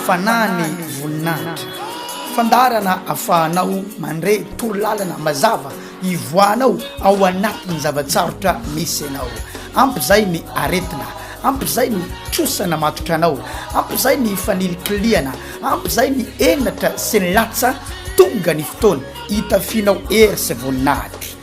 Fanahy ny voninahitra. Fandaharana afahanao mandre torolalana mazava ivoahanao ao anatin'ny zava-tsarotra misy anao. Ampy izay ny aretina, ampy izay ny trosana matotra anao, ampy izay ny fanilikilihana, ampy izay ny henatra sy ny latsa, tonga ny fotoana hitafianao hery sy voninahitra.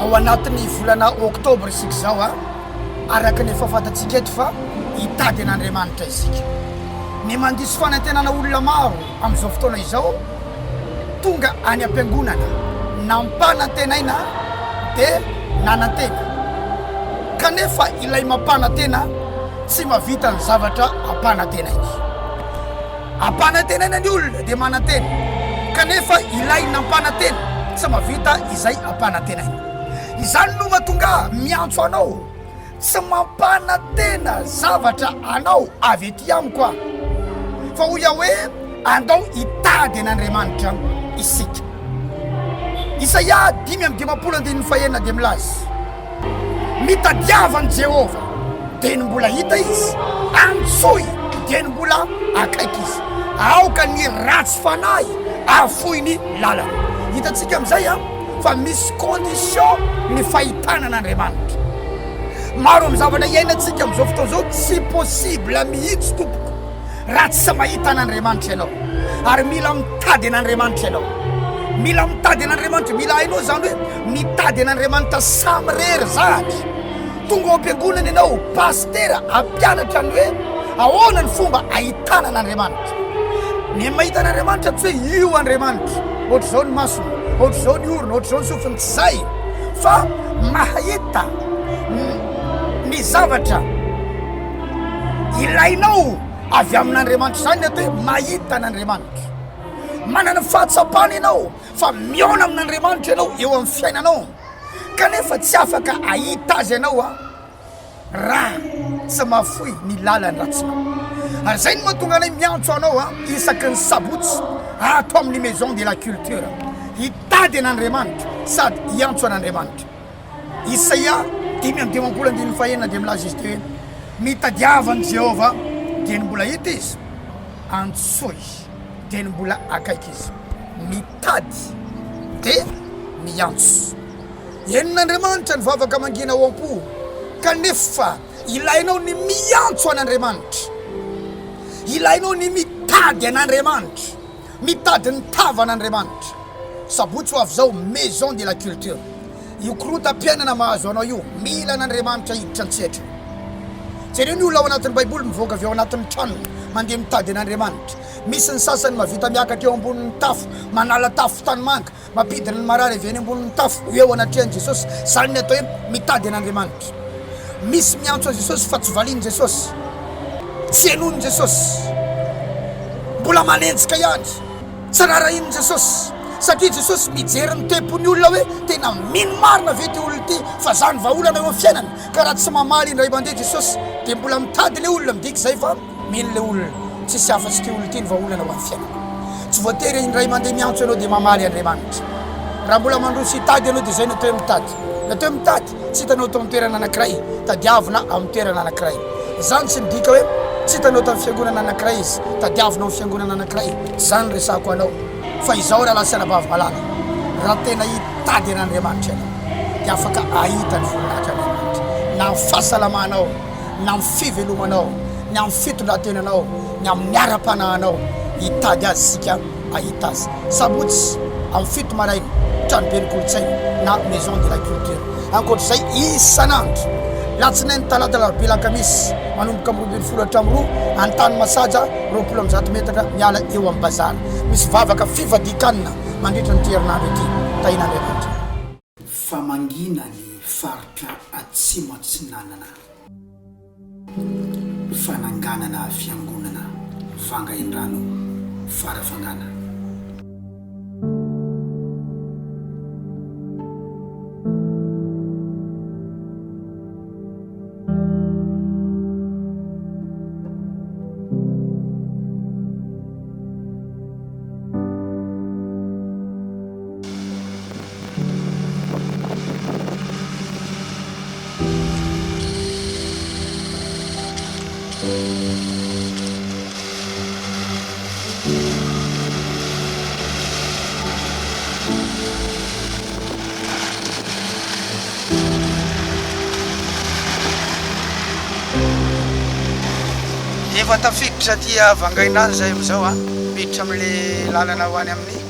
Ao anatin'ny volana oktobra isika izao a, araka ny efa fantatsika eto fa hitady an'Andriamanitra isika. Ny mandiso fanantenana olona maro amin'izao fotoana izao tonga any am-piangonana, nampanantenaina dia nanantena, kanefa ilay mampanantena tsy mahavita ny zavatra ampanantenainy. Ampanantenaina ny olona dia manantena, kanefa ilay nampanantena tsy mahavita izay ampanantenaina. Izany no mahatonga ahy miantso anao, tsy mampanantena zavatra anao avy ety amiko aho, fa hoy aho hoe, Andao hitady an'Andriamanitra isika. Isaia dimy amby dimampolo andininy fahenina dia milaza. Mitadiava an'i Jehovah, dieny mbola hita izy, antsoy, dieny mbola akaiky izy. Aoka ny ratsy fanahy afoy ny lalany. Hitantsika amin'izay a, fa misy condition ny fahitana an'Andriamanitra. Maro amin'ny zavatra iainantsika amin'izao fotoana izao tsy possible mihitsy tompoko. raha tsy mahita an'Andriamanitra ianao ary mila mitady an'Andriamanitra ianao mila mitady an'Andriamanitra mila hainao zany hoe mitady an'Andriamanitra samirery zahatra tonga ao am-piangonana ianao pastera ampianatra ny hoe ahoana ny fomba ahitana an'Andriamanitra ny mahita an'Andriamanitra tsy hoe io Andriamanitra ohatr'izao ny masony ohatr'izao ny orona ohatr'izao ny sofiny tsy zay fa mahahita ny zavatra Ilainao avy amin'Andriamanitra izany ny atao hoe mahita an'Andriamanitra. Manana fahatsapana ianao fa mihaona amin'Andriamanitra ianao eo amin'ny fiainanao kanefa tsy afaka ahita azy ianao a raha tsy mahafoy ny lalan'ny ratsinao. Ary izay no mahatonga anay miantso anao a isaky ny sabotsy ato amin'ny Maison de la Culture hitady an'Andriamanitra sady hiantso an'Andriamanitra. Isaia dimy amby dimampolo andininy fahenina dia milaza izy ity hoe, Mitadiava an'i Jehovah, dia ny mbola hita izy, antsoy izy, dia ny mbola akaiky izy. Mitady dia miantso. Henon'Andriamanitra ny vavaka mangina ao am-po, kanefa ilainao ny miantso an'Andriamanitra. Ilainao ny mitady an'Andriamanitra. Mitady ny tavana Andriamanitra. Sabotsy ho avy izao Maison de la Culture. Io korontam-piainana mahazo anao io, mila an'Andriamanitra hiditra an-tsehatra. Jereo ny olona ao anatin'ny Baiboly mivoaka avy ao anatin'ny tranony, mandeha mitady an'Andriamanitra. Misy ny sasany mahavita miakatra eo ambonin'ny tafo, manala tafo tanimanga, Mampidina ny marary avy eny ambonin'ny tafo ho eo anatrehan'i Jesosy, izany ny atao hoe mitady an'Andriamanitra. Misy miantso an'i Jesosy fa tsy valian'i Jesosy, tsy henoin'i Jesosy, mbola manenjika ihany, tsy raharahian'i Jesosy, satria Jesosy mijery ny tempon'ny olona hoe tena mino marina ve ity olona ity fa izany vahaolana eo amin'ny fiainany, ka raha tsy mamaly indray mandeha Jesosy dia mbola mitady ilay olona midika izay fa Mino le olona, tsisy afa tsy ty olona ty ny vahaolana ho an'ny fiainana. Tsy voatery indray mandeha miantso ianao dia mamaly Andriamanitra. Raha mbola mandroso hitady ianao dia izay natao hoe mitady. Natao hoe mitady, tsy hitanao tao amin'ny toerana anankiray, tadiavina ao amin'ny toerana anankiray. Izany tsy midika hoe tsy hitanao tamin'ny fiangonana anankiray izy, tadiavinao amin'ny fiangonana anankiray, tsy izany no resahako anao. Fa izao rahalahy sy anabavy malala, raha tena hitady an'Andriamanitra ianao dia afaka hahita ny voninahitran'Andriamanitra na amin'ny fahasalamanao, ny amin'ny fivelomanao, ny amin'ny fitondran-tenanao, ny amin'ny ara-panahinao. Hitady azy isika hahita azy. Sabotsy amin'ny fito maraina, tranoben'ny kolontsaina na Maison de la Culture. Ankoatra izay, isan'andro, latsinainy, talata, alarobia, alakamisy, manomboka amin'ny roa ambin'ny folo hatramin'ny roa, any tany Masaja, roapolo amby zato metatra miala eo amin'ny bazary. Misy vavaka fivadikan-na mandritra an'ity herinandro ity. Tahiana Andriamanitra. fa mangina ny faritra Atsimo Atsinanana. Fananganana fiangonana Vanga Indrano Farafangana. Efa tafiditra aty Vangaindrano zahay amizao an, miditra amle lalana ho any amin'ny.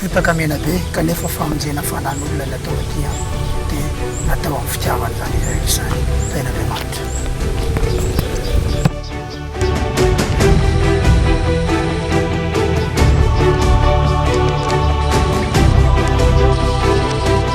Fotaka mena be kanefa famonjena fanan'olona ny atao aty an dia natao amin'ny fitiavana izany izy rehetra izany tahin'Andriamanitra.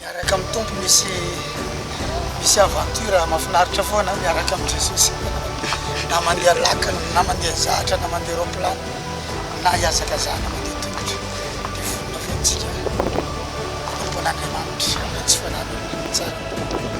Miaraka amin'ny Tompo misy misy aventure mafinaritra foana miaraka amin'i Jesosy na mandeha lakana na mandeha zahatra na mandeha roplano na hiazakazahana mandeha tongotra dia vonona fentsika manompo an'Andriamanitra amin'ny tsy fananana tsara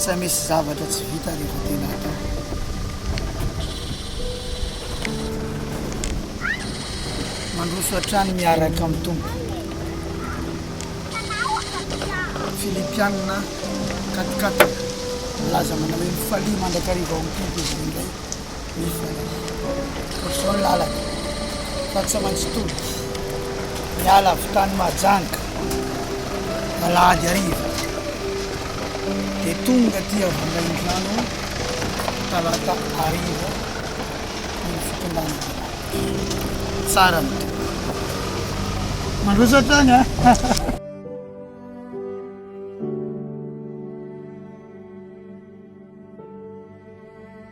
Tsy misy zavatra tsy vita rehefa tena atao. Mandroso hatrany miaraka amin'ny tompo. Filipianina katikataka milaza manao hoe mifalia mandrakariva ao amin'ny tompo izy indray. Efa toa izao ny lalana fa tsy maintsy tody miala avy tany Mahajanga alahady hariva dia tonga aty Vangaindrano talata hariva ny fitondrana tsara ny tompoko mandroso hatrany a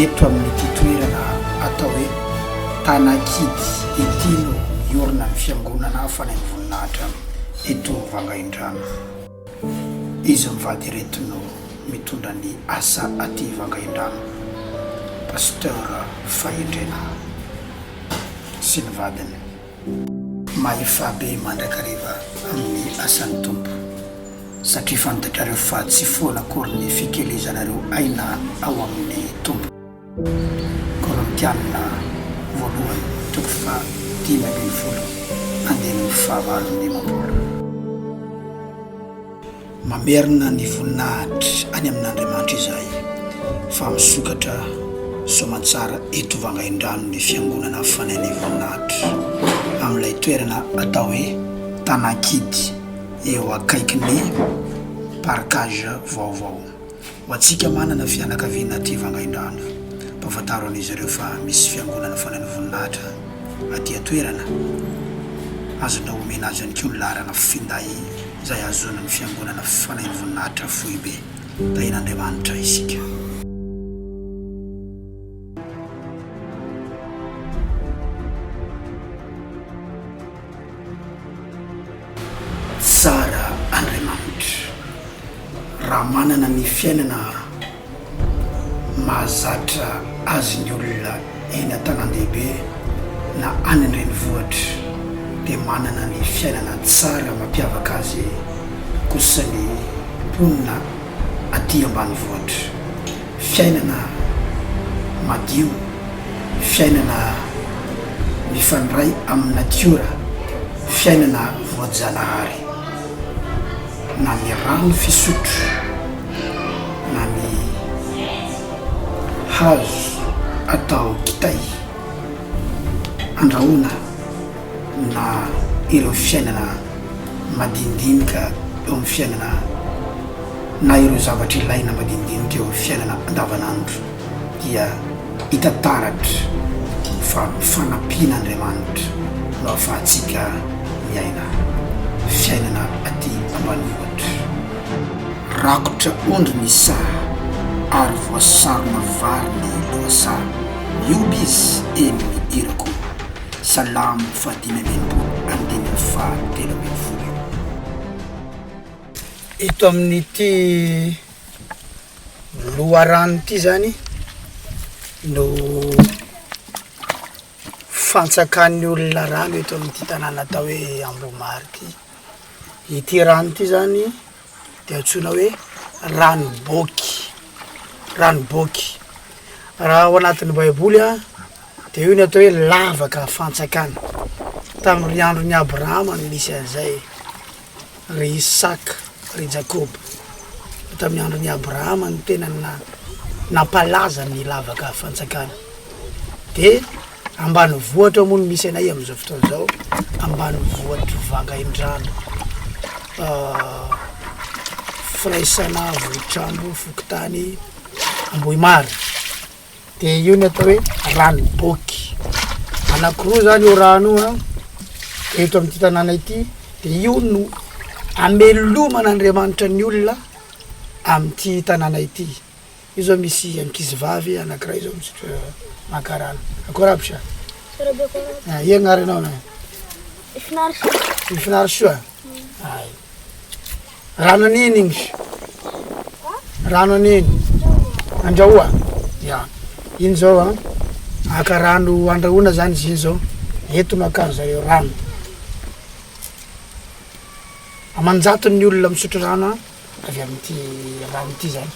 Eto amin'ity toerana atao hoe Tanakidy ity no hiorina ny fiangonana fanai-boninahitra eto Vangaindrano. Iza mivady ireto no mitondra ny asa aty Vangaindrano? Pasteur Fahendrena sy ny vadiny. Mahefa be mandrakariva amin'ny asan'ny Tompo satria fantatrareo fa tsy foana akory ny fikelezanareo aina ao amin'ny Tompo. Korintiana voalohany toko faha dimy ambin'ny folo andininy faha valo ny dimampolo. Mamerina ny voninahitra any amin'Andriamanitra izahay fa misokatra soamantsara eto Vangaindrano ny fiangonana fanain'ny voninahitra amin'ilay toerana atao hoe Tanankidy eo akaikin'ny parkage vaovao. Ho antsika manana fianakaviana aty Vangaindrano, ampahafantaro an'izy ireo fa misy Fiangonana Fanahin'ny Voninahitra aty an-toerana. Azonao omena azy ihany koa ny laharana finday izay hahazoana ny Fiangonana Fanahin'ny Voninahitra Foibe. Tahian'Andriamanitra isika. Tsara Andriamanitra. Raha manana ny fiainana mahazatra azy ny olona eny an-tanàn-dehibe na any an-drenivohitra dia manana ny fiainana tsara mampiavaka azy kosa ny mponina aty ambanivohitra. Fiainana madio, fiainana mifandray amin'ny natiora, fiainana voajanahary, na ny rano fisotro, na ny hazo atao kitay, andrahoina. na ireo fiainana madinidinika eo amin'ny fiainana na ireo zavatra ilaina madinidinika eo amin'ny fiainana andavanandro dia hita taratra fa fanampian'Andriamanitra no ahafahantsika miaina fiainana aty ambanivohitra. Rakotra ondry ny saha ary voasarona vary ny lohasaha. Mihoby izy eny ny irako. Salam fahadimy amby enimpolo andininy faha telo ambin'ny folo eo. Eto amin'ity loharano ity izany no fantsakan'ny olona rano eto amin'ity tanàna atao hoe Ambohimary ity. Ity rano ity izany. Dia antsoina hoe ranoboky, ranoboky. Raha ao anatin'ny Baiboly a, dia io no atao hoe lavaka fantsakana. Tamin'ny andron'i Abrahama no nisy an'izay, ry Isaka, ry Jakoba. Tamin'ny andron'i Abrahama no tena na- nampalaza ny lavaka fantsakana. Dia. Ambanivohitra moa no misy anay amin'izao fotoana izao, ambanivohitr'i Vangaindrano, firaisana Vohitr'Ambo, fokontany Ambohimary. Dia io no atao hoe Ranoboky. Anankiroa izany io rano io an, eto amin'ity tanàna ity. Dia io no ameloman'Andriamanitra ny olona amin'ity tanàna ity. Io zao misy ankizy vavy anakiray zao mizotra maka rano akory aby sa? Tsara be akory aby. Ah, iagna ary anao na? Ifinary soa. Ifinary soa? Ay. Rano an'iny igny sa? Rano an'iny? Andrahoa? Ya. Iny zao an, aka rano andrahoana zany izy iny zao. Eto no akan zareo rano. Aman-jatony ny olona misotro rano an. avy amin'ity rano ity zany.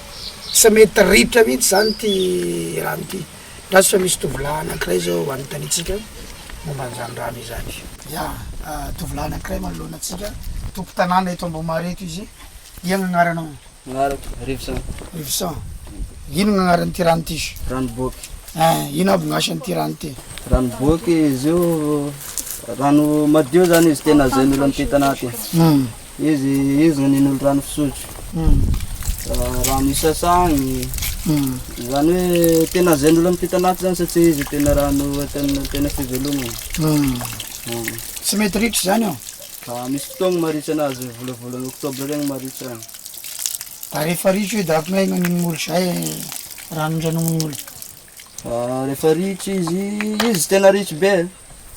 Sa mety ritra mihitsy zany ity rano ity? Ndra tsy fa misy tovolahy anankiray zao anontanitsika momba an'izany rano izany. Ya, tovolahy anankiray manoloana antsika, tompon-tanàna eto Ambohimary eto izy. Ian ny agnaranao? Agnarako, Rivson. Rivson. Ino ny agnaran'ity rano ity izy? Ranoboky. Ein, ino aby ny asan'ity rano ity? Ranoboky, izy io rano madio zany izy tena azon'olo mitety anaty. Izy io izao ninolo rano fisotro, rano hisasany, izany hoe tena izay ny olona miampita anaty izany satria izy tena rano ataon'ny tena fivelomana. Tsy mety ritra izany eo? Misy fotoagny maritra anazy, volavolan'ny octobre regny maritra agny. Da rehefa ritra io da akognaia no anin'olo izay rano ndranominy olo? Ah, rehefa ritra izy, izy tsy tena ritra be,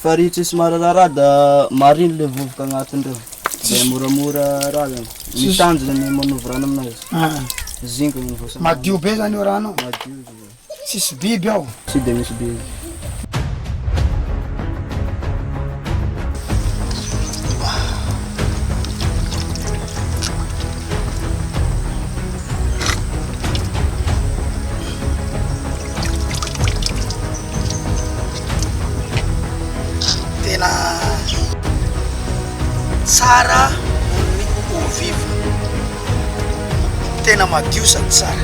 fa ritra sy mararara da mariny le vovoka agnatiny reo. Dia moramora rariny. Ny tanjona ny manovy rano aminazy. Ah. Zingony ny voasana. Madio be zany io rano. Madio izy. Tsisy biby ao. Tsy dia misy biby. Tena tsara ny eau vive, tena madio sady tsara.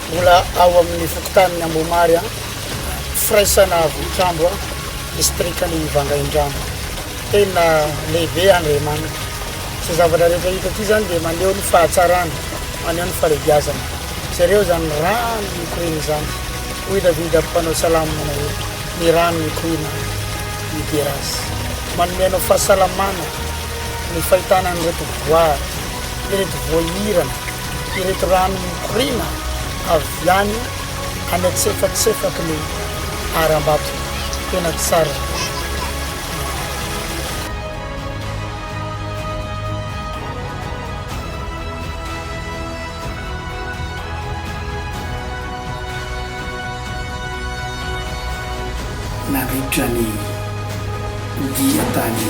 Mbola ao amin'ny fokontanin'i Ambomary, firaisana Vohitrambo, distrikan'i Vangaindrano, tena lehibe Andriamanana. Izay zavatra rehetra hita ety izany dia maneho ny fahatsarany, maneho ny fahalehibiazany. Jereo izany rano mikoriana izany, hoy i Davida mpanao salamo manao hoe, Ny rano mikoriana midera azy. Manome anao fahasalamana ny fahitana an'ireto voary, ireto voahirana. ireto rano mikoriana avy any any antsefatsefaky ny harambato tena tsara Nandritra ny dia tany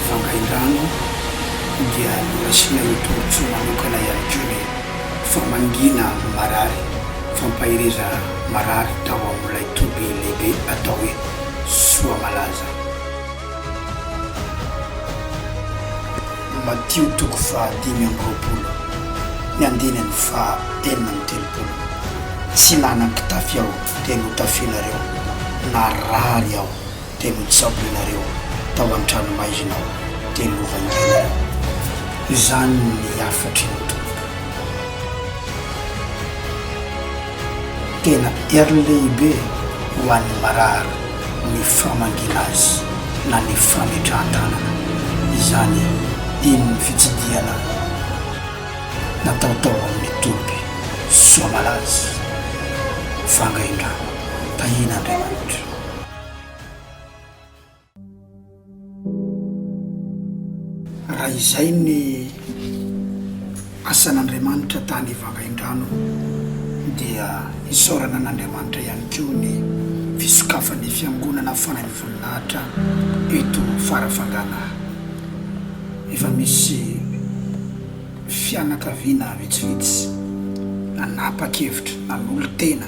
Vangaindrano dia nasian'ny tombontsoa manokana ihany koa ny famangiana marary, fampahereza marary tao amin'ilay toby lehibe atao hoe Soamalaza. Matio toko faha dimy amby roapolo ny andininy faha enina amby telopolo Tsy nanan-pitafy aho dia notafianareo, narary aho dia notsaboinareo, tao an-tranomaizina aho dia novangianareo. Izany ny hafatry ny Tompo. Tena heriny lehibe ho an'ny marary ny famangiana azy na ny fametrahan-tanana. Izany eny ny fitsidihana natao tao amin'ny toby Soamalaza, Vangaindrano, tahian'Andriamanitra. Raha izay ny asan'Andriamanitra tany Vangaindrano dia isaorana an'Andriamanitra ihany koa ny fisokafan'ny Fiangonana Fanahin'ny Voninahitra eto Farafangalahy. Efa misy fianakaviana vitsivitsy nanapa-kevitra, nanolo-tena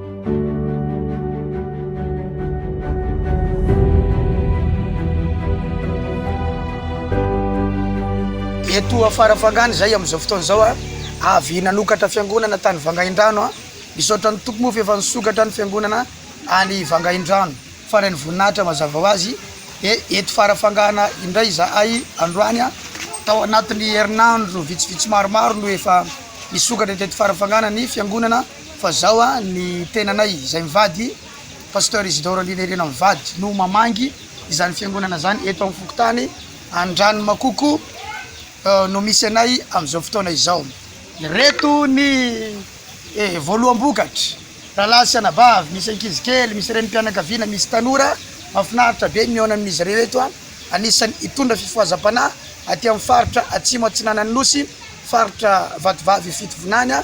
Eto ho afarafangana izay amin'izao fotoana izao a, avy nanokatra fiangonana tany Vangaindrano a, misaotra ny Tompo moa fa efa nisokatra ny fiangonana any Vangaindrano faran'ny voninahitra mazava ho azy, dia eto farafangana indray izahay androany a, tao anatin'ny herinandro vitsivitsy maromaro no efa nisokatra teto farafangana ny fiangonana. Fa zao a ny tenanay izay mivady Pasteur Isidore Andriana Irena mivady no mamangy izany fiangonana zany eto am fokontany Andranomakoko no misy anay amzao fotoana izao. Ireto ny e voaloham-bokatra, rahalahy sy anabavy, misy ankizy kely, misy renim-pianakaviana, misy tanora, mahafinaritra be ny mihaona amin'izy ireo eto a, anisan'ny hitondra fifohazam-panahy aty amin'ny faritra Atsimo Atsinanan'ny Nosy, faritra Vatovavy Fitovinany a.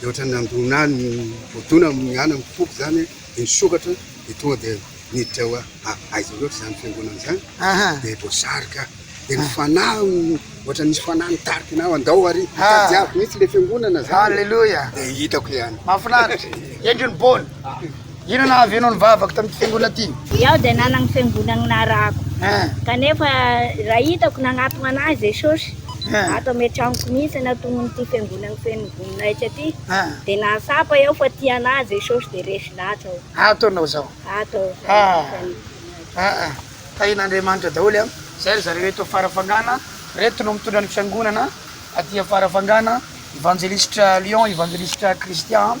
Dia ohatran'ny nandona ahy ny voadona amin'ny anany ny foko izany dia nisokatra dia tonga dia niditra ho ahy. Aiza loatra izany fiangonana izany? Dia voasarika aho. Dia ny fanahy ohatran'ny nisy fanahy nitarika ahy andao ary hitady ahy mihitsy ilay fiangonana izany. Alléluia. Dia hitako ihany. Mahafinaritra. Hendry ny bôny. Inona nahavianao ny vavako tamin'ity fiangonana ity? Izaho dia nanana fiangonana narahako. Kanefa raha hitako nanatona ahy Jesosy, ato amin'ny an-tranoko mihitsy natonon'ity fiangonana feno voninahitra ity, dia nahatsapa aho fa tia an'ahy Jesosy dia resy lahatra aho. Ato ianao izao? Ato aho izao, amin'ny feno voninahitra. Tahin'Andriamanitra daholo an! Izay ry zareo eto Farafangana, ireto no mitondra ny fiangonana aty Farafangana, Evanjelisitra Lion, Evanjelisitra Christian.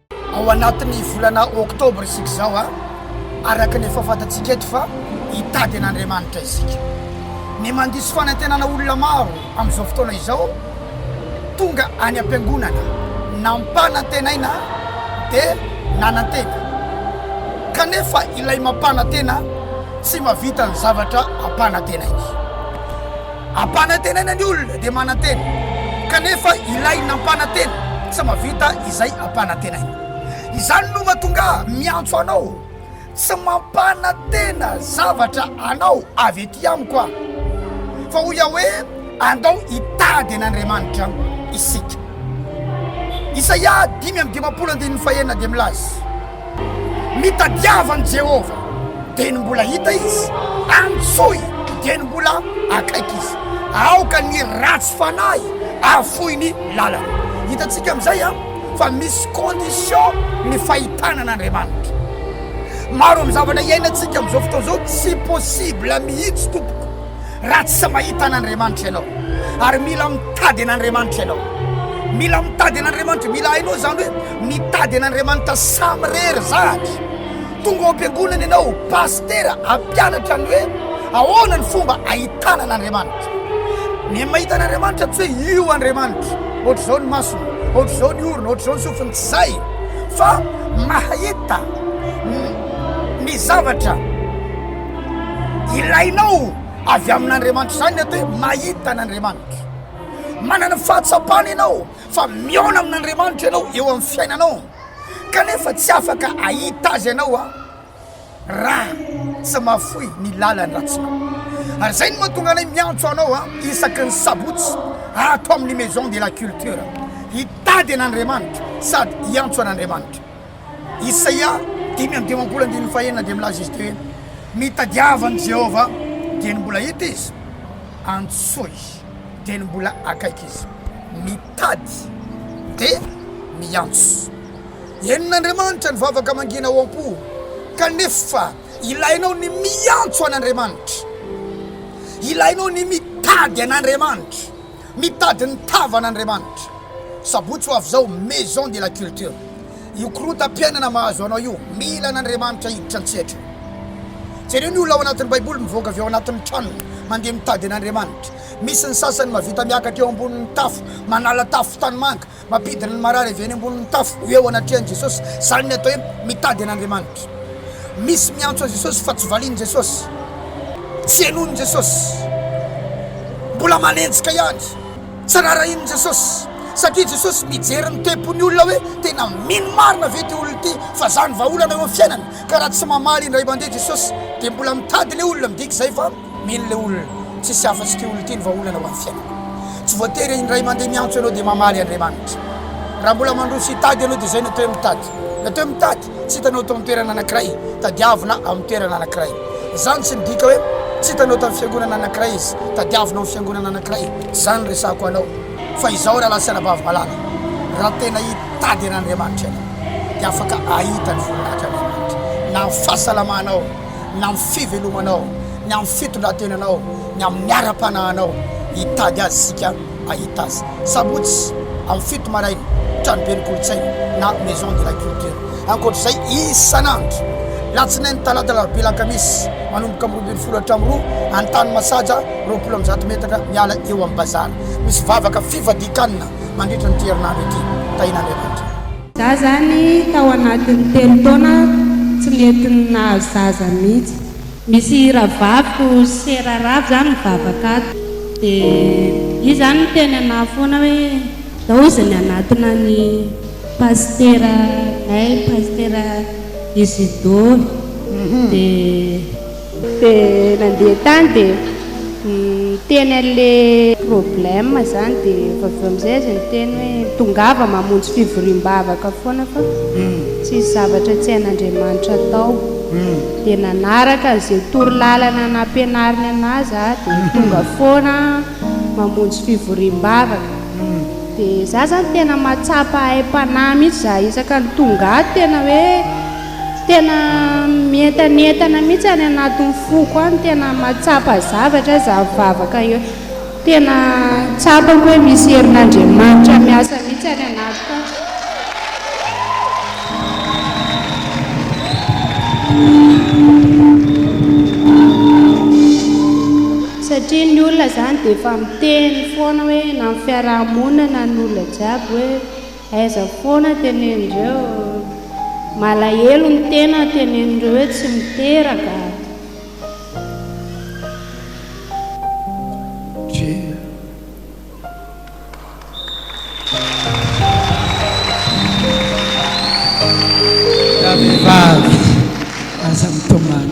Ao anatin'ny volana oktobra isika izao a, araka ny efa fantatsika eto fa hitady an'Andriamanitra isika. Ny mandiso fanantenana olona maro amin'izao fotoana izao tonga any am-piangonana, nampanantenaina dia nanantena. Kanefa ilay mampanantena tsy mahavita ny zavatra ampanantenainy. Ampanantenaina ny olona dia manantena, kanefa ilay nampanantena tsy mahavita izay ampanantenaina. Izany no mahatonga ahy miantso anao, tsy mampanantena zavatra anao avy ety amiko aho, fa hoy aho hoe, Andao hitady an'Andriamanitra isika. Isaia dimy amby dimampolo andininy fahenina dia milaza. Mitadiava an'i Jehovah, dieny mbola hita izy, antsoy, dieny mbola akaiky izy. Aoka ny ratsy fanahy afoy ny lalany. Hitantsika amin'izay a, fa misy condition ny fahitana an'Andriamanitra. Maro amin'ny zavatra iainantsika amin'izao fotoana izao tsy possible mihitsy tompoko. raha tsy mahita an'Andriamanitra ianao ary mila mitady an'Andriamanitra ianao mila mitady an'Andriamanitra mila hainao zany hoe mitady an'Andriamanitra samirery zahatra tonga ao am-piangonana ianao pastera ampianatra ny hoe ahoana ny fomba ahitana an'Andriamanitra ny mahita an'Andriamanitra tsy hoe io Andriamanitra ohatr'izao ny masony ohatr'izao ny orona ohatr'izao ny sofiny tsy zay fa mahahita ny zavatra Ilainao avy amin'Andriamanitra izany ny atao hoe mahita an'Andriamanitra. Manana fahatsapana ianao fa mihaona amin'Andriamanitra ianao eo amin'ny fiainanao kanefa tsy afaka ahita azy ianao a raha tsy mahafoy ny lalan'ny ratsinao. Ary izay no mahatonga anay miantso anao a isaky ny sabotsy ato amin'ny Maison de la Culture hitady an'Andriamanitra sady hiantso an'Andriamanitra. Isaia dimy amby dimampolo andininy fahenina dia milaza izy ity hoe, Mitadiava an'i Jehovah, dieny mbola hita izy, antsoa izy, dieny mbola akaiky izy. Mitady dia miantso. Henon'Andriamanitra ny vavaka mangina ao am-po, kanefa ilainao ny miantso an'Andriamanitra. Ilainao ny mitady an'Andriamanitra. Mitady ny tavana Andriamanitra. Sabotsy ho avy izao Maison de la Culture. Io korontam-piainana mahazo anao io, mila an'Andriamanitra hiditra an-tsehatra. Jereo ny olona ao anatin'ny Baiboly mivoaka avy ao anatin'ny tranony, mandeha mitady an'Andriamanitra. Misy ny sasany mahavita miakatra eo ambonin'ny tafo, manala tafo tanimanga. Mampidina ny marary avy eny ambonin'ny tafo ho eo anatrehan'i Jesosy, izany ny atao hoe mitady an'Andriamanitra. Misy miantso an'i Jesosy fa tsy valian'i Jesosy, tsy henoin'i Jesosy, mbola manenjika ihany, tsy raharahian'i Jesosy, satria Jesosy mijery ny tempon'ny olona hoe tena mino marina ve ity olona ity fa izany vahaolana eo amin'ny fiainany, ka raha tsy mamaly indray mandeha Jesosy dia mbola mitady ilay olona midika izay fa Mino le olona, tsisy afa tsy ty olona ty ny vahaolana ho an'ny fiainana. Tsy voatery indray mandeha miantso ianao dia mamaly Andriamanitra. Raha mbola mandroso hitady ianao dia izay natao hoe mitady. Natao hoe mitady, tsy hitanao tao amin'ny toerana anankiray, tadiavina amin'ny toerana anankiray. Izany tsy midika hoe tsy hitanao tamin'ny fiangonana anankiray izy, tadiavina ao amin'ny fiangonana anankiray, tsy izany no resahako anao. Fa izao rahalahy sy anabavy malala, raha tena hitady an'Andriamanitra ianao dia afaka hahita ny voninahitran'Andriamanitra na amin'ny fahasalamanao, ny amin'ny fivelomanao, ny amin'ny fitondran-tenanao, ny amin'ny ara-panahinao. Hitady azy isika hahita azy. Sabotsy amin'ny fito maraina, tranoben'ny kolontsaina na Maison de la Culture. Ankoatra izay, isan'andro, latsinainy, talata, alarobia, alakamisy, manomboka amin'ny roa ambin'ny folo hatramin'ny roa, any tany Masaja, roapolo amby zato metatra miala eo amin'ny Bazar. Misy vavaka fivadikan-na mandritra an'ity herinandro ity. Tahiana Andriamanitra. Za zany tao anatiny telo taona tsy nety nahazo zaza mitsy. Misy ravaviko se raravo zany mivavaka ato de izy zany miteny anah foana hoe daoziny anatona ny pasitera nay pasitera isidoro de Dia nandeha tany dia niteny an'ilay problème zany dia avy eo amin'izay izy niteny hoe tongava mamonjy fivoriam-bavaka foana fa tsisy zavatra tsy hain'Andriamanitra atao. Dia nanaraka an'izay toro lalana nampianariny an'azy aho dia tonga foana mamonjy fivoriam-bavaka. Dia za zany tena mahatsapa aim-panahy mihitsy za isaka ny tonga ato tena hoe. Tena mientanentana mihitsy any anatin'ny foko any, tena mahatsapa zavatra za mivavaka eo, tena tsapako hoe misy herin'Andriamanitra miasa mihitsy any anatiko any satria ny olona zany dia efa miteny foana hoe na ny fiaraha-monina na ny olona jiaby hoe Aiza foana tenenindreo malahelo ny tena tenenindreo hoe tsy miteraka. Raha vehivavy aza mitomany.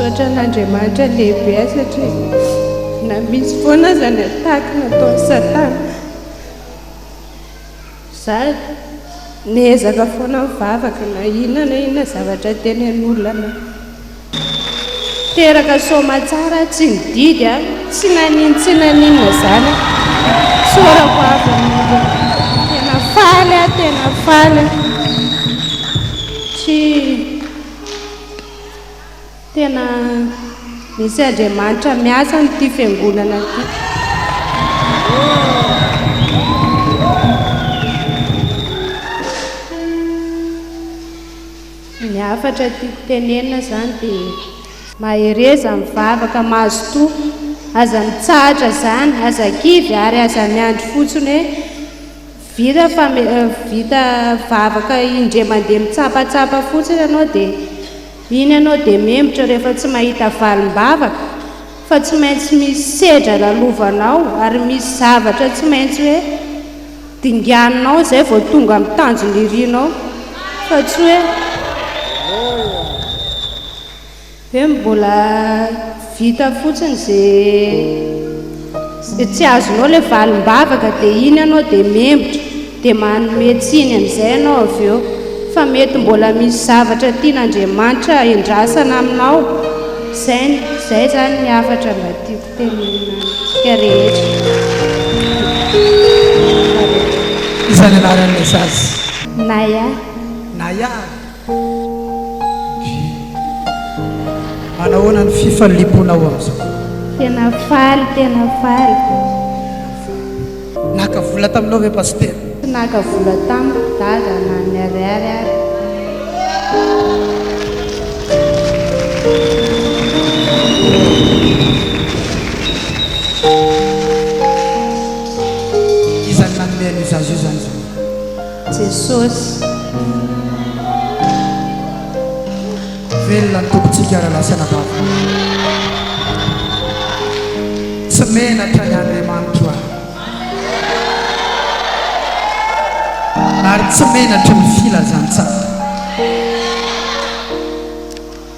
Misaotra an'Andriamanitra lehibe aho satria na misy foana aza ny attaque nataon'i Satana. Zary, niezaka foana mivavaka na inona na inona zavatra tenen'olona na teraka soamatsara aho tsy nididy a, tsy naninona tsy naninona zany a, tsorako avy amin'ireo, tena faly aho tena faly aho, tsy Tena misy Andriamanitra miasa amin'ity fiangonana ity. Ny hafatra tiako tenenina izany dia mahereza mivavaka mazotoa, aza mitsahatra izany, aza kivy ary aza miandry fotsiny hoe vita fame, vita vavaka indray mandeha mitsapatsapa fotsiny ianao dia Iny ianao dia membotra rehefa tsy mahita valim-bavaka fa tsy maintsy misy sedra lalovanao ary misy zavatra tsy maintsy hoe dinganinao izay vao tonga amin'ny tanjona irinao fa tsy hoe hoe mbola Vita fotsiny ze ze tsy azonao le valim-bavaka de iny anao de membotra de manome tsiny amizay anao avy eo fa mety mbola misy zavatra tian'Andriamanitra endrasana aminao zay zay zany ny hafatra mba tiako tenenina antsika rehetra Iza ny anaran'ilay zaza? Naya. Naya. Manahoana ny fifaliponao amin'izao? Tena faly, tena faly. Naka vola taminao ve Pasitera? Tsy naka vola tamiko Dada na ny ariary ary. Iza no nanome an'io zaza io izany? Jesosy oh. Velona ny Tompontsika ry lahy sy anabavy. Tsy menatra ny Andriamanitro ahy. Ary tsy menatra ny filazantsara.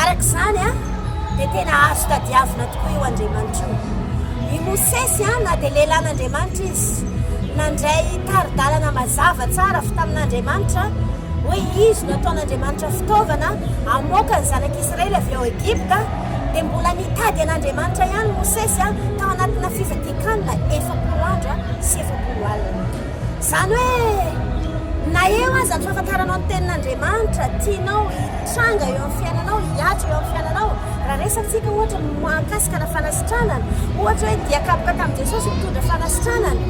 Araka izany, dia tena azo tadiavina tokoa io Andriamanitra io. I Mosesy, na dia lehilahin'Andriamanitra izy, nandray tari-dalana mazava tsara avy tamin'Andriamanitra, hoe izy no ataon'Andriamanitra fitaovana hamoaka ny Zanak'Isiraely avy ao Egypta, dia mbola nitady an'Andriamanitra ihany Mosesy tao anatina fifadian-kanina efapolo andro sy efapolo alina. Izany hoe, na eo aza ny fahafantaranao ny Tenin'Andriamanitra, tianao Tranga eo amin'ny fiainanao, hihatra eo amin'ny fiainanao. Raha resatsika ohatra ny mahakasika ny fanasitranana, ohatra hoe dia kapoka tamin'i Jesosy mitondra fanasitranana,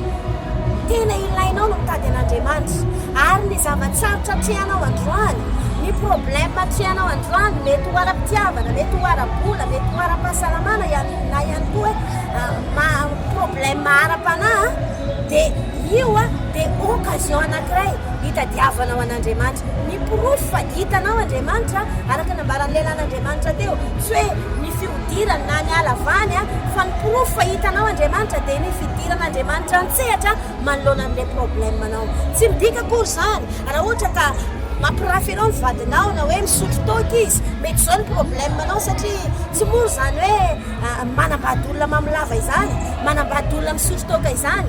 tena ilainao ny mitady an'Andriamanitra. Ary ny zava-tsarotra atrehanao androany, ny problème atrehanao androany, mety ho ara-pitiavana, mety ho ara-bola, mety ho ara-pahasalamana ihany, na ihany koa hoe problème ara-panahy, dia io dia occasion anankiray hitadiavanao an'Andriamanitra. Ny porofo fa hitanao Andriamanitra, araka ny nambaran'ny lehilahin'Andriamanitra teo, tsy hoe ny fihodirany na ny halavany, fa ny porofo fa hitanao Andriamanitra dia ny fidiran'Andriamanitra an-tsehatra manoloana an'ilay problème-nao. Tsy midika akory izany raha ohatra ka mampirafy anao ny vadinao na hoe misotro toaka izy, mety izao ny problème-nao satria tsy mora izany hoe manambady olona mamolava izany, manambady olona misotro toaka izany,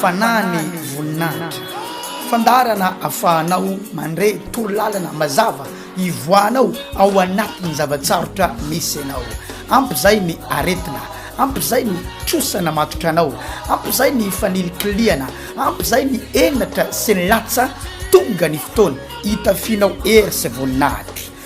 Fanahy ny voninahitra. Fandaharana afahanao mandre torolalana mazava ivoahanao ao anatin'ny zava-tsarotra misy anao. Ampy izay ny aretina, ampy izay ny trosa namatotra anao, ampy izay ny fanilikilihana, ampy izay ny henatra sy ny latsa, tonga ny fotoana hitafianao hery sy voninahitra.